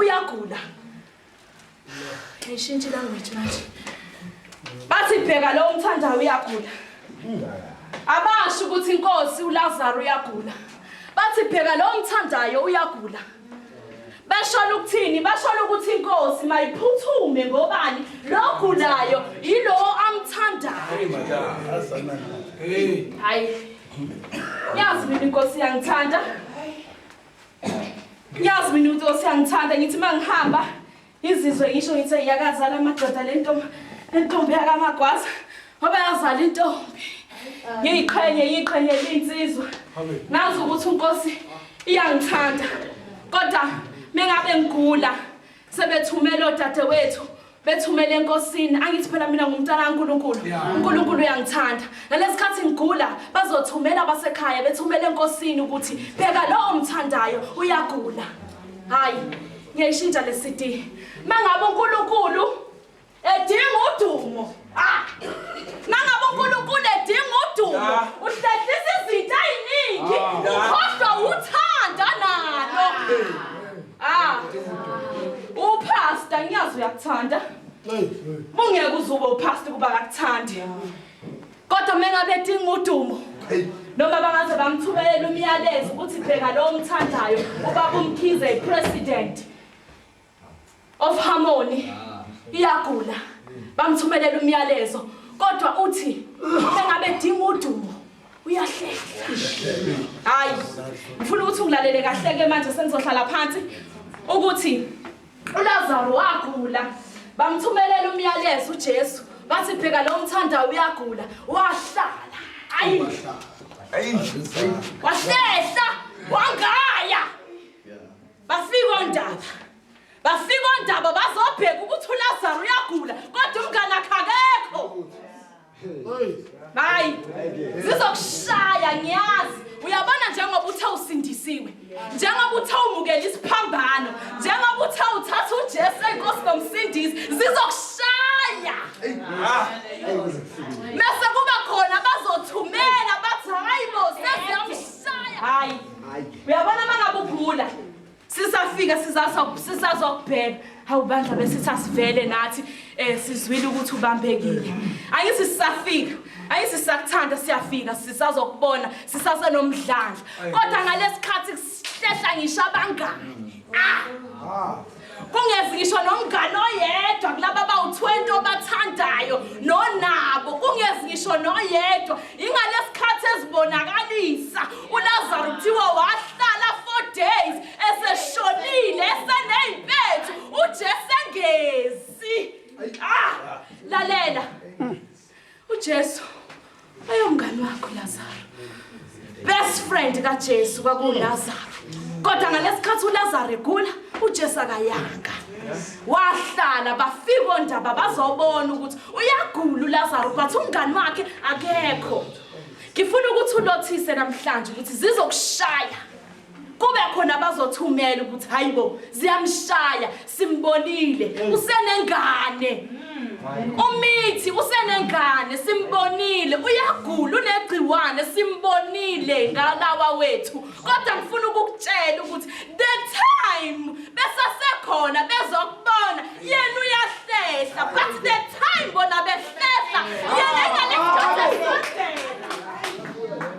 uyagula ayishintshe ilanguage manje bathi bheka lo umthandayo uyagula abasho ukuthi inkosi ulazaro uyagula bathi bheka lo umthandayo uyagula basholo ukuthini basholo ukuthi inkosi mayiphuthume ngobani lo gulayo yilowo amthandayo hayi yazi mina inkosi yangithanda Ngiyazi mina ukuthi osiyangithanda ngithi mangihamba izizwe ngisho ngithi yakazala amadoda lento lentombi yakamagwaza ngoba yazala intombi ngiyiqhenye yiqhenye linsizwa ngazi ukuthi unkosi iyangithanda kodwa mengabe ngigula sebethumela odadewethu bethumele enkosini angithi phela mina ngumntana kaNkulunkulu uNkulunkulu uyangithanda nalesikhathi ngigula bazothumela abasekhaya bethumele enkosini ukuthi bheka lo omthandayo uyagula hayi ngiyayishintsha le CD mangabe uNkulunkulu edinga udumo Nangabe uNkulunkulu edinga udumo, Ah. uhlehlisa izinto eziningi, Ah. ukhohlwa uthanda nalo. Ah. Upastor ngiyazi uyakuthanda. Mungeke uzube upastor kuba akakuthandi. Kodwa mengabe edinga udumo, noma bangaze bamthumelela umyalezo ukuthi bheka lo omthandayo ubaba umkhize ipresident of Harmony iyagula bamthumelela umyalezo kodwa uthi engabe dinga udumo uyahlehla hayi ngifuna ukuthi ulalele kahle ke manje senizohlala phansi ukuthi uLazaro wagula bamthumelela umyalezo uJesu bathi pheka lo mthanda uyagula wahlala ayi ayi wahlehla wangaya Bafika ondaba. Bafika ondaba bazobheka ukuthi uLazaro uyagula kodwa umngane akhakekho. Hayi. Zizokushaya ngiyazi. Uyabona njengoba uthe usindisiwe. Njengoba uthe umukela isiphambano. Njengoba uthe uthatha uJesu enkosi nomsindisi zizokushaya. Ah. Mase kuba khona bazothumela bathi hayibo sesiyamshaya. hayi uyabona uma ngabe ugula sisafika sizazokubheka hawu bandla besithi asivele nathi um sizwile ukuthi ubambekile angithi sisafika angithi sisakuthanda siyafika sisazokubona sisasenomdlandla kodwa ngalesi khathi kuhlehla ngisho abangani ah kungezi ngisho nomngane oyedwa kulaba bawu-20 obathandayo nonabo kungezi ngisho noyedwa ingalesikhathi ezibonakalisa ulazaro kuthiwa wahlala four days eseshonile eseney'mpethu ujesu engezi ah lalela UJesu wayewumngani wakho Lazaro. Best friend kaJesu kwakuLazaro. Kodwa ngalesikhathi uLazaro egula, uJesu akayanga. Wahlala bafika ondaba bazobona ukuthi uyagula uLazaro but umngani wakhe akekho. Ngifuna ukuthi ulothise namhlanje ukuthi zizokushaya. kube khona abazothumela ukuthi hayibo ziyamshaya simbonile mm. usenengane mm. umithi usenengane simbonile uyagula unegciwane simbonile ngalawa wethu kodwa ngifuna ukukutshela ukuthi the time besasekhona bezokubona yena uyahlehla but the time bona behlehla yena ingane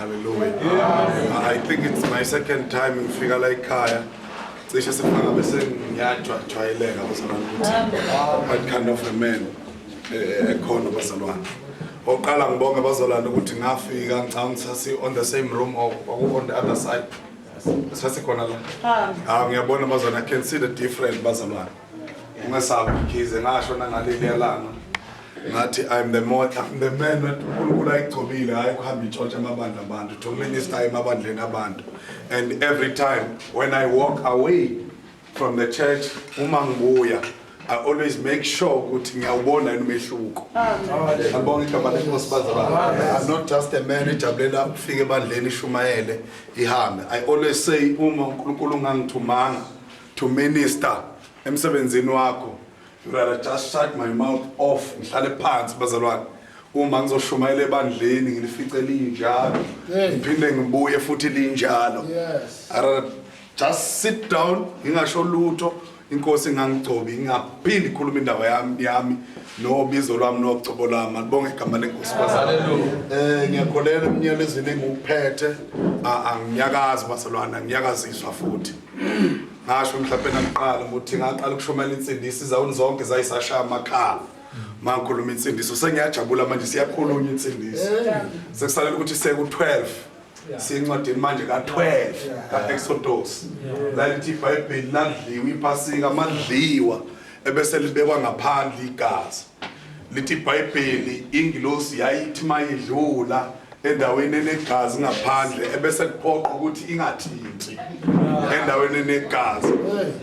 Hallelujah. I think it's my second time ngifika la ekhaya. Cishe sifaka bese ngiyajwa jwayeleka bazalwane ukuthi what kind of a man eh, ekhona bazalwane. Oqala ngibonge bazalwane ukuthi ngafika ngicabanga sasi on the same room or kwaku on the other side. Sasi khona la. Ah ngiyabona bazalwane I can see the different bazalwane. Ungesabi Mkhize ngasho nangaleli yalanga ngathi I'm the more I'm the man uNkulunkulu ayigcobile hayi kuhamba itshotsha amabandla abantu to minister emabandleni abantu and every time when I walk away from the church uma ngibuya I always make sure ukuthi ngiyawubona yini umehluko. Ngiyabonga igama lenkosi bazalwane. I'm not just a man ejabulela ukufika ebandleni ishumayele ihambe. I always say uma uNkulunkulu ungangithumanga to minister emsebenzini wakho you rather just shut my mouth off ngihlale phansi bazalwane uma ngizoshumayela ebandleni ngilifice linjalo Hey. ngiphinde ngibuye futhi linjalo Yes. I rather just sit down ngingasho lutho inkosi ingangigcobi ngingaphindi khuluma indaba yami yami nobizo lwami nocobo lami alibonge igama lenkosi bazalwane Hallelujah. Eh ngiyakholelwa emnyelezweni engikuphethe a- anginyakazi bazalwane angiyakaziswa futhi ngasho mhlawumbe nakuqala ukuthi ngaqala ukushumayela insindisi izawuni zonke zayisashaya amakhala mangikhuluma insindiso sengiyajabula manje siyakhulunywa insindiso sekusalela ukuthi seku-12 sincwadini manje ka-12 ka-exodos lalithi ibhayibheli ladliwa iphasika amadliwa ebese libekwa ngaphandle igazi Lithi iBhayibheli ingilosi yayithi mayidlula endaweni enegazi ngaphandle ebese kuphoqa ukuthi ingathinti endaweni enegazi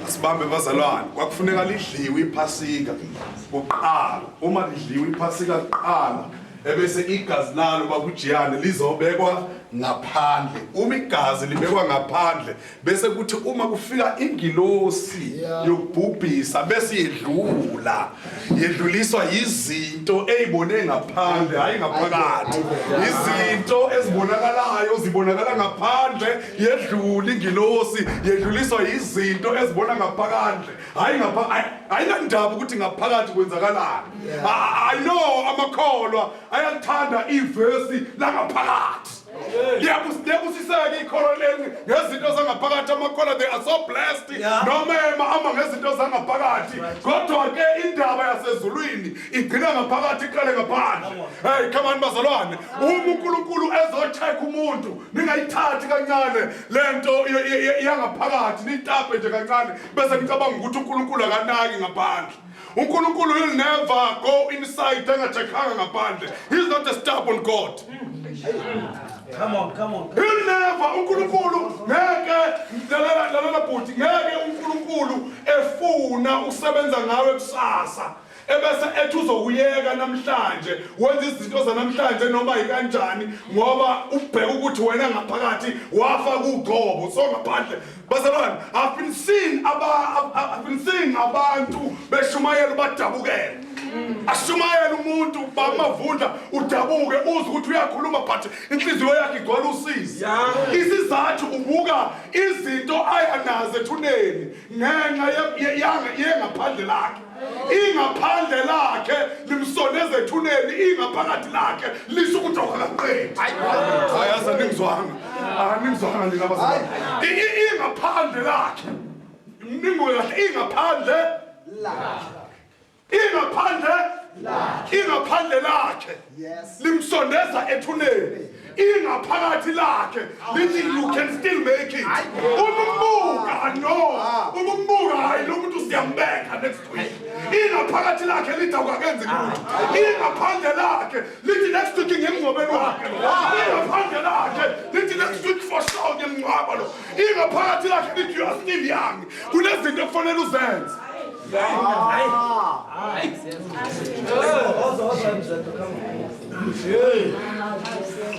asibambe bazalwane kwakufuneka lidliwe iphasika kuqala uma lidliwe iphasika kuqala ebese igazi lalo bakujiyane lizobekwa ngaphandle uma igazi libekwa ngaphandle bese kuthi uma kufika ingilosi yokubhubhisa bese yedlula yedluliswa yizinto eyibone ngaphandle hayi ngaphakathi izinto ezibonakalayo zibonakala ngaphandle yedlula ingilosi yedluliswa yizinto ezibona ngaphakathi hayi ngapha ayinandaba ukuthi ngaphakathi kwenzakalani i know amakholwa ayakuthanda ivesi langaphakathi ngiyabusiseka ikholo leli ngezinto zangaphakathi amakhola they are so blessed noma emahamba ngezinto zangaphakathi kodwa ke indaba yasezulwini igcina ngaphakathi iqale ngaphandle heyi khamani bazalwane uma unkulunkulu ezocheck umuntu ningayithathi kancane le nto yangaphakathi niyitape nje kancane bese nicabanga ukuthi unkulunkulu akanaki ngaphandle unkulunkulu will never go inside angachekhanga ngaphandle he's not a stubborn god Come on, come on. He'll never uNkulunkulu ngeke lalela lalela bhuti ngeke uNkulunkulu efuna usebenza ngawe kusasa ebese ethi uzokuyeka namhlanje wenza izinto zanamhlanje noma yikanjani ngoba ubheka ukuthi wena ngaphakathi wafa kugcobo so ngaphandle Bazalwane, I've been seeing aba I've been seeing abantu beshumayela ubadabukela. Ashumayela umuntu bamavundla udabuke uze ukuthi uyakhuluma but inhliziyo yakhe igcwala usizi. Isizathu ubuka izinto ayanazo ethuneni ngenxa yengaphandle lakhe. ingaphandle lakhe limsondeza ethuneni ingaphakathi lakhe lisho ukuthi awukaqedi hayi aza ningizwanga aningizwanga nina bazali ingaphandle lakhe ningoye kahle ingaphandle lakhe ingaphandle lakhe ingaphandle lakhe limsondeza ethuneni ingaphakathi lakhe lithi you can still make it umbuka no ah. umbuka hayi lo muntu siyambeka next week ingaphakathi lakhe lithi awukakenzi ah. lutho ingaphandle lakhe lithi next week ngemngcwabeni wakhe ah. ingaphandle lakhe lithi next week for sure ngemngcwaba lo ingaphakathi lakhe lithi you are still young kunezinto ekufanele uzenze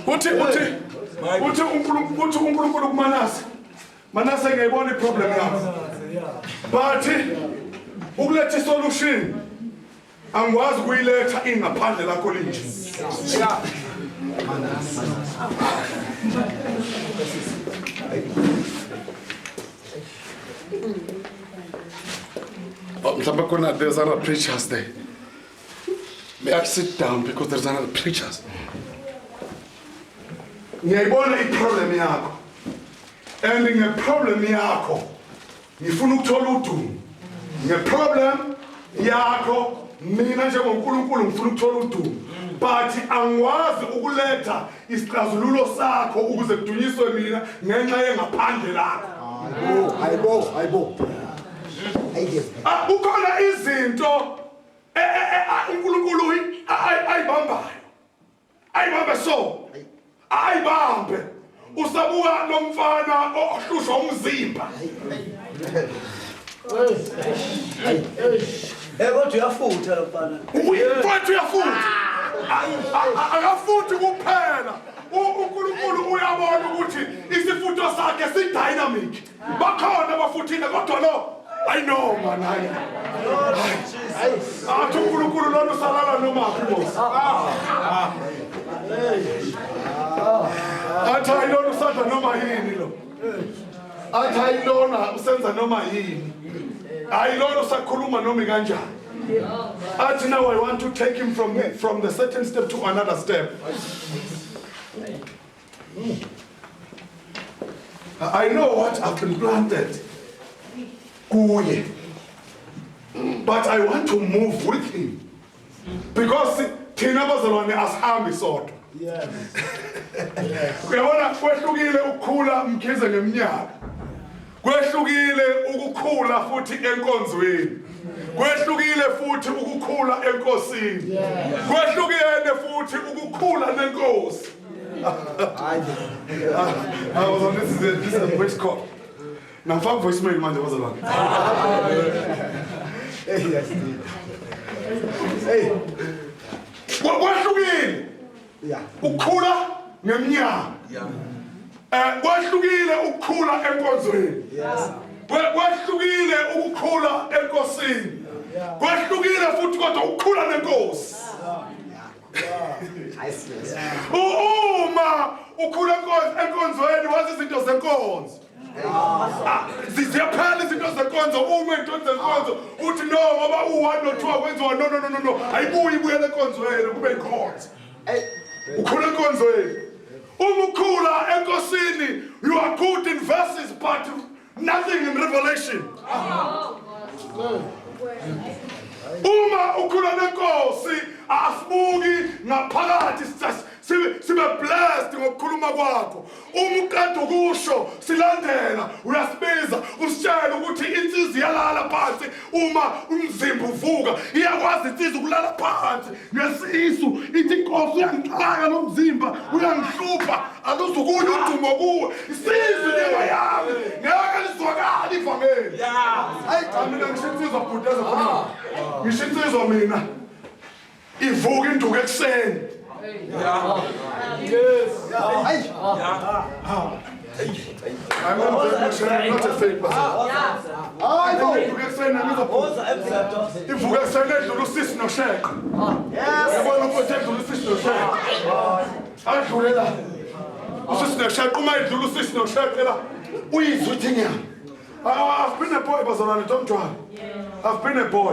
uthi uthi uthi unkulunkulu uthi unkulunkulu kumanase manase ngiyayibona iproblem yakho but ukuletha isolution Angikwazi ukuyiletha ingaphandle lakho linje. Oh, mhlawumbe khona there's other preachers there. May I sit down because there's another preachers. Ngiyayibona i-problem yakho and nge-problem yakho ngifuna ukuthola udumo ngeproblem yakho mina njengonkulunkulu ngifuna ukuthola udumo but angikwazi ukuletha isixazululo sakho ukuze kudunyiswe mina ngenxa yengaphandle lakho hayibo hayibo ah, kukhona izinto eh, eh, eh, ah, unkulunkulu ayibambayo ayibambe so ayibambe usabuka lomfana ohlushwa umzimba Eh kodwa uyafutha lo mfana. Uyafutha uyafutha. Akafuthi kuphela. uNkulunkulu uyabona ukuthi isifutho sakhe sidynamic bakhona bafuthile kodwa lo ayi no man hayi athi unkulunkulu lona usalala nomaphi bosi athi hayi lona usadla noma yini lo athi hayi lona usenza noma yini hayi lona usakhuluma noma kanjani athi now i want to take him from, from the certain step to another step I know what I've been planted kuye but I want to move with him because thina bazalwane asihambi sodwa uyabona kwehlukile ukukhula mkhize ngeminyaka kwehlukile ukukhula futhi enkonzweni kwehlukile futhi ukukhula enkosini kwehlukene futhi ukukhula nenkosi Nafaka voicemail manje bazalwane. Hey, yes. Hey. Kwahlukile. Yeah. Ukukhula ngeminyaka. Yeah. Eh kwahlukile ukukhula enkonzweni. Yes. Kwahlukile ukukhula enkosini. Kwahlukile futhi kodwa ukukhula nenkosi. uma ukhula enkonzweni wazi izinto zenkonzo ah, ziyaphela izinto zenkonzo uma into zenkonzo uthi no ngoba u-one no-two akwenziwa no no no no no ayibuye ibuyele enkonzweni kube inkonzo ukhula enkonzweni uma ukhula enkosini you are good in verses but nothing in revelation uma ukhula nenkosi asibuki ngaphakathi sibe blessed ngokukhuluma kwakho uma uqeda ukusho silandela uyasibiza usitshele ukuthi insizi yalala phansi uma umzimba uvuka iyakwazi insizwa ukulala phansi ngesisu ithi inkosi uyangixaka lo mzimba uyangihlupha aluzukuye udumo kuwe isizwe inyama yami ngeke lizwakala ivangeli hayi cha mina ngisho insizwa bhuteza khona ngisho insizwa mina Ivuka induku ekuseni. Yeah. Yes. Yeah. I'm not a not a fake person. Hayi bo ivuka ekuseni nami izophuza. Ivuka ekuseni edlula usisi nosheqo. Yabona ukuthi edlula usisi nosheqo. Adlule la. Usisi nosheqo uma edlula usisi nosheqo la. Uyizwa uthi nyama. Ah, I've been a boy bazalwane don't try. I've been a boy.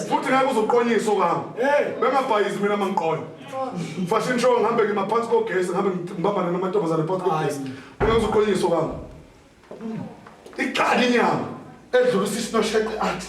Futhi ngeke uzoqonyisa okami. Bengabhayizi mina mangiqonya. Fashion show ngihambe ngimaphansi kogesi ngihambe ngibambane namantombazane phansi kogesi. Bengeke uzoqonyisa okami. Iqali inyama edlula usisi nosheqe athi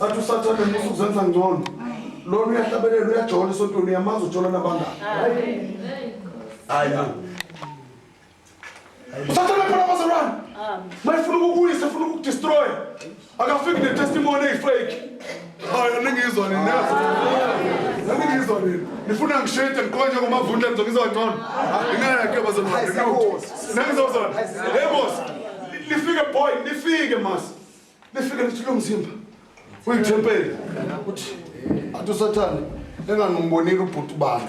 athi usathane musa ukuzenza ngcono lona uyahlabelela uyajola esontweni uyamazi ujola nabangani usathane phela bazalwane mayifuna ukukuyisa funa ukukudestroya Akafiki ne testimony eyi fake. Hayi aningizwa nini neza. Aningizwa nini. Nifuna ngishade ngiqoka nje ngomavundla ngizokizwa ngcono. Ingaya ke bazalwane. Nengizozona. Hey boss. Nifike boy, nifike mas. Nifike nithi lo mzimba. Uyithempeli. Uthi athi usathane engangimbonile ubhuti bani.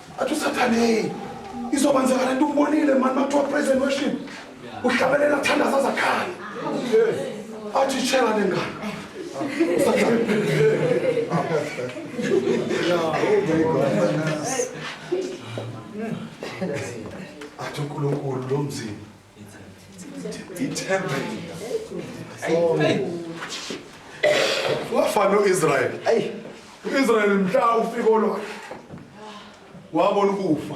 Athi usathane hey izokwenzeka lento umbonile mani makuthiwa praise and worship uhlabelela kuthandaza azakhaya athi itshela nengane athi unkulunkulu lo mzini ithempeli wafana noIsrael ayi uIsrael mhla ufika olwakhe wabona ukufa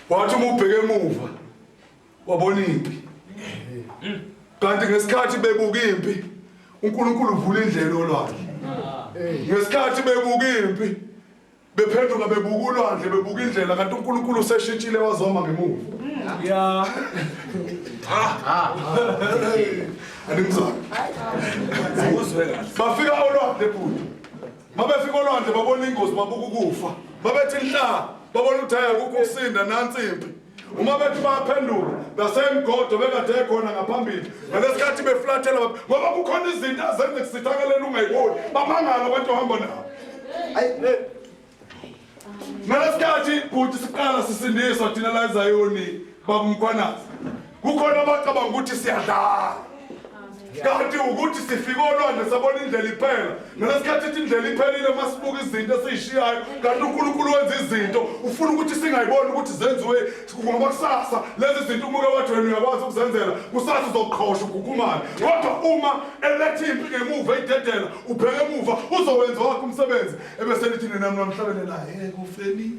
wathi uma ubheke emuva wabona impi kanti ngesikhathi bebuka impi uNkulunkulu uvula indlela olwandle ngesikhathi bebuka impi Bephenduka bebuka ulwandle bebuka indlela kanti uNkulunkulu useshintshile wazoma ngemuva. Yeah. Andimzwa. Uzwe kahle. Bafika olwandle bhuti. Mabefika olwandle babona ingozi babuka ukufa. Babethi nhla babona ukuthi hayi akukho ukusinda nansi impi. uma bethi bayaphendula nasemgodo bekade ekhona ngaphambili ngalesikhathi beflathela ngoba kukhona izinto azenze kusithakaleni ungayiboni bamangala abantu ohamba nabo ngalesikhathi bhuti siqala sisindiswa thina la ezayoni babumkhwanazi kukhona abacabanga ukuthi siyadlala kanti ukuthi sifike olwandle sabona indlela iphela nalesikhathi ithi indlela iphelile uma sibuka izinto esiyishiyayo kanti unkulunkulu wenza izinto ufuna ukuthi singayiboni ukuthi zenziwe ngoba kusasa lezi zinto umuke wathi wena uyakwazi ukuzenzela kusasa uzoqhosha ugukumane kodwa uma eletha impi ngemuva idedela ubheke emuva uzowenza wakho umsebenzi ebeselithi nina mnamhlabele naye ekufeni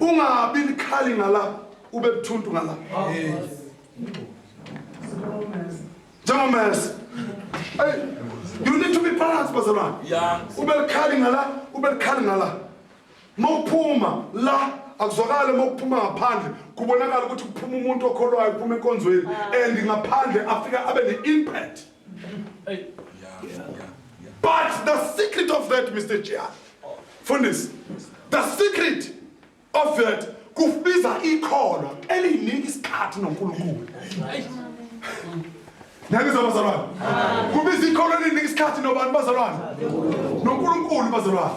Ungabi likhali ngala ube buthuntu ngala. Njengomese. Hey, you need to be balanced bazalwane. Yeah. Ube likhali ngala ube likhali ngala. Mawuphuma la akuzwakale mokuphuma ngaphandle kubonakala ukuthi kuphuma umuntu okholwayo kuphuma enkonzweni and ngaphandle afika abe ne-impact Hey. Yeah, yeah, yeah. But the secret of that, Mr. Chair, Fundis, the secret of that kubiza ikholo eliyinika isikhathi noNkulunkulu. Niyangizwa bazalwane? Kubiza ikholo elinika isikhathi nobani bazalwane? NoNkulunkulu bazalwane.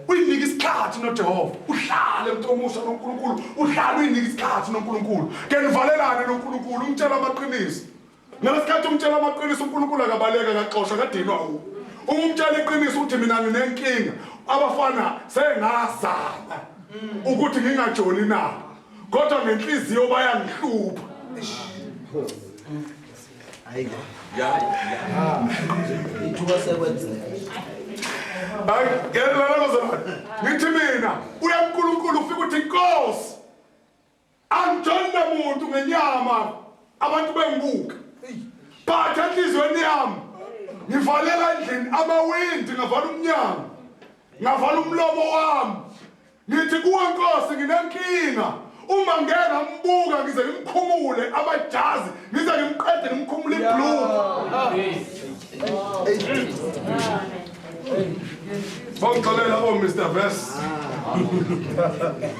Uyinika isikhathi noJehova. Uhlale mthomusa noNkulunkulu. Uhlale uyinika isikhathi noNkulunkulu. Ke nivalelane noNkulunkulu umtshela amaqiniso. Ngalesikhathi umtshela amaqiniso uNkulunkulu akabaleka akaxoshwa akadinwa u. Uma umtshela iqiniso uthi mina nginenkinga abafana sengazama ukuthi ngingajoli na kodwa ngenhliziyo bayangihlupha. Hayi. Ya. Ya. Ithuba sekwenzeka. Hayi, ngeke lana bazalwane. Ngithi mina uyaNkulunkulu ufika uthi inkosi Angijoli namuntu ngenyama abantu bengibuka but enhliziyweni yami ngivalela endlini amawindi ngavala umnyango ngavala umlomo wami ngithi kuwe nkosi nginenkinga uma ngeke ngambuka ngize ngimkhumule amajazi ngize ngimqede ngimkhumule iblue Bangixolela o oh, Mr Verse.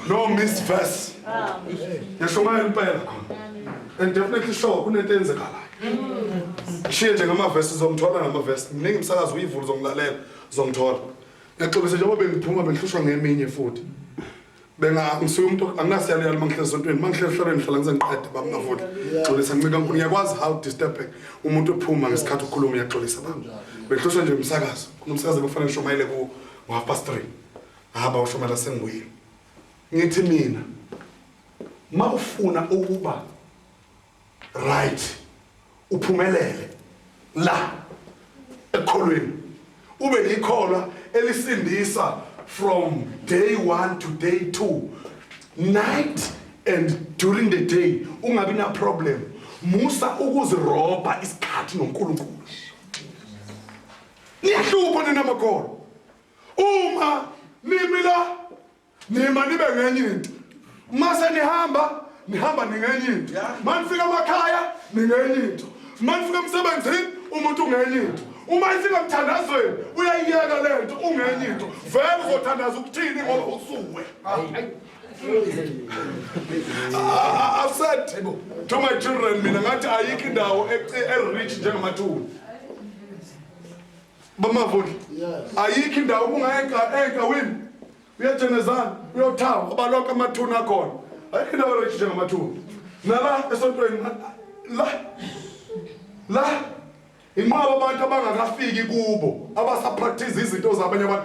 No Miss Verse. Yashumayela impela. And definitely sure kunento enzekalayo. Shiye nje ngama verse uzomthola ngama verse. Mningi umsakazi uyivula uzongilalela uzomthola. Ngixolise njengoba bengiphuma bengihlushwa ngeminye futhi. benga ngisuye umuntu anginasiyalo yalo mangihlezi esontweni mangihlezi ehlolweni ngihlala ngizengiqede baba ngavoti xolisa ncika nkulu ngiyakwazi how disturbing umuntu ophuma ngesikhathi ukhuluma uyaxolisa baba bengihloswa nje umsakazo kunomsakazo bekufanele ngishumayele ku half past three haba ushumayela sengibuyile ngithi mina ma ufuna ukuba Right. Uphumelele la ekukholweni. Ube yikholwa elisindisa from day 1 to day 2. Night and during the day ungabi na problem. Musa ukuzirobha isikhathi noNkulunkulu. Niyahlupha nina makholwa. Uma nimi la Nima nibe ngenye into. Uma senihamba nihamba ningenye into. Uma nifika emakhaya ningenye into. Uma nifika emsebenzini umuntu ungenye into. Uma ifika emthandazweni uyayiyeka le nto ungenye into. Vele uzothandaza ukuthini ngoba usuwe. I- I've said to my children mina ngathi ayikho indawo e- e-rich njengamathuna. bamavundla ayikho indawo ubungaya enkawini uyajenezana uyothawa abaloko amathuna akhona ayikho indawo ereji njengamathuna nala esontweni la la inqwaba abantu abangakafiki kubo abasapractice izinto zabanye abantu